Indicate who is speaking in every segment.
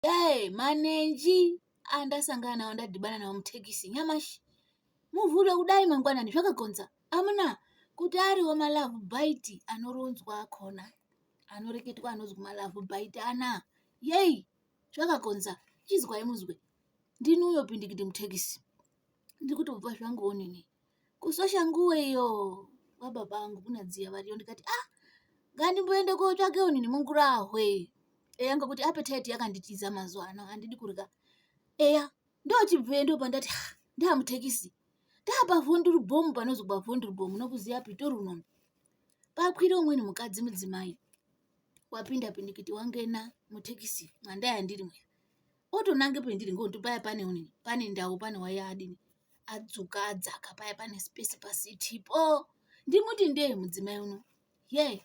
Speaker 1: Hey, manenji andasangana nawo ndadhibana nawo mutekisi nyamashi muvhuro kudai mangwanani zvakagonza amuna kuti ariwo malavu bhaiti anoronzwa akona anoreketwa anonzwa malavu bhaiti ana yei zvakagonza chizwai muzwe ndini uyo pindikiti mutekisi ndiri kutobva zvangu onini kusosha nguwe iyo wababa angu kuna dziya variyo ndikati ah ngandimboende kotsvake unhu nemungurahwe eya ngokuti apetite yakanditiza mazuva ano handidi kurya eya ndochibvuye ndo pandati ah, ndamutekisi ndapavhonduru bhomu panozi kwavhonduru bhomu nokuziya pitorunono pakwira umweni mukadzi mudzimai wapinda pindikiti wangena mutekisi mwandaya ndiri mweya otonange pendiri ngokuti paya pane unini pane ndau pane waya adini adzoka adzaka paya pane space paseat po ndimuti ndee mudzimai uno yee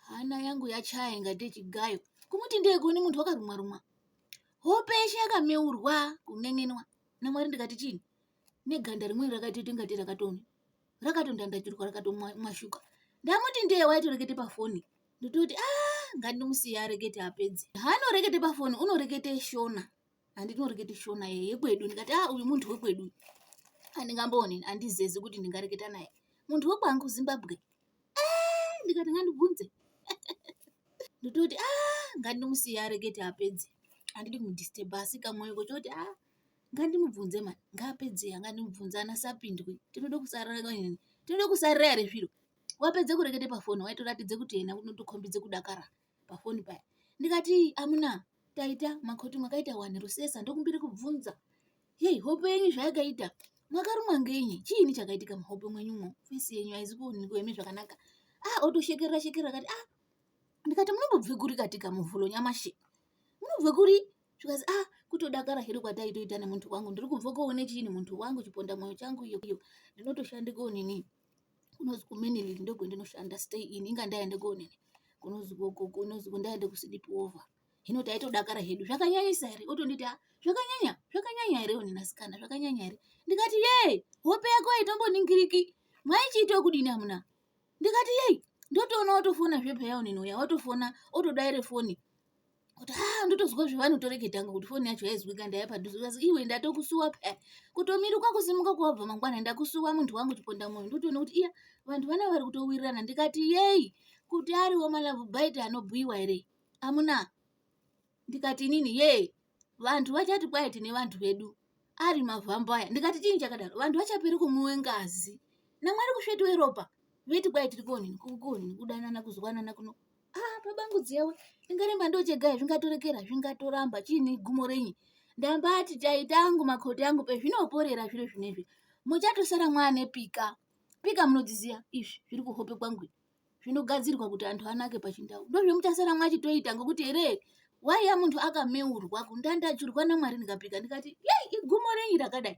Speaker 1: hana yangu yachaya ingate chigayo kumuti ndee kuone munhu wakarumwa rumwa hope yeshe yakameurwa kun'en'enwa namwari ndikati chini neganda rimweni rakatoita ingati rakatoni rakatondandachirwa rakatomwashuka ndamuti ndee waitorekete pafoni ndototi a ah, ngandimusiya arekete apedze haanorekete pafoni unorekete shona handinoreketi shona yekwedu ndikati a ah, uyu munhu wekwedu handingambooni handizezi kuti ndingareketa naye munhu wekwangu zimbabwe ah, ndikati ngandibvunze ndototi a ah, ngandimusiya arekete apedze handidi kumudisturba asi kamwoyo kochoti a ngandimubvunze mani ngaapedze angandimubvunze anasapindwi tinoda kusarira tinoda kusarira here zviro wapedze kurekete pafoni waitoratidze kuti yena unotokhombidze kudakara pafoni paya ndikati amuna taita makoti mwakaita wani rusesa ndokumbiri kubvunza hei hope yenyu zvayakaita mwakarumwa ngenyi chiini chakaitika muhope mwenyumo fesi yenyu haizi kuonekwa imi zvakanaka ah otoshekerera shekerera akati ah ndikati munombobve kuri katika muvhulo nyamashi munobve kuri zvikazi ah kutodakara hedu kwataitoita nemuntu wangu ndiri kubva koone chiini muntu wangu chiponda mwoyo changu iyo iyo ndinotoshande koonini kunonzi kuMenelik ndiko kwandinoshanda stay in inga ndaenda kuonini kunonzi koko kunonzi kundaenda kusleep over hino taitodakara hedu zvakanyanyisa here otonditi a zvakanyanya zvakanyanya here onini asikana zvakanyanya here ndikati yee hope yako haitomboningiriki mwaichiita okudini amuna ndikati yei ndotoona watofona zvepheya onini uya watofona otodaire foni kuti ha ah, ndotozwa zvevanotoreketa nga kuti foni yacho yaizwika ndaya padhuze kasi iwe ndatokusuwa paya kutomiruka kusimuka kwavabva mangwana ndakusuwa muntu wangu chiponda moyo ndotoona kuti iya vantu vana vari kutowirirana ndikati yei kuti ariwo malavu baiti anobhuiwa here amuna ndikati inini yee vantu vachati kwaya tine vantu vedu ari mavhambo aya ndikati chii chakadaro vantu vachaperi kumwiwe ngazi namwari kusvetiwe ropa veti kwaya tiri kuonini kukuonini kudanana kuzwanana kuno ah babangu dziyawe ndingaremba ndochegaya zvingatorekera zvingatoramba chiine gumo renyi ndambati taita angu makoti angu pezvinoporera zviro zvinezvi muchatosara mwane pika pika munodziziya izvi zviri kuhope kwangu zvinogadzirwa kuti antu anake pachindau ndozvemuchasara mwachitoita ngokuti here waiya munhu akameurwa kundandajurwa namwari ndikapika ndikati yei igumo renyi rakadai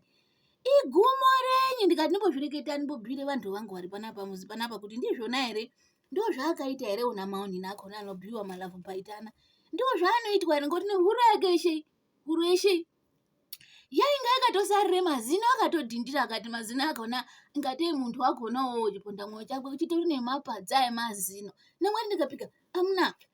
Speaker 1: igumo renyi ndikati ndimbozvireketani mbobhire vanhu vangu vari panapa muzi panapa kuti ndizvona here ndo zvaakaita here una maonini akona anobhiwa malavhu paitana ndo zvaanoitwa here ngoti nehuro yake yeshe huro yeshe yainga yakatosarire mazino akatodhindira akati mazino akona ngatei munhu wakonawo chiponda mwoyo chakwe uchitori nemapadza emazino nemwari ndikapika amuna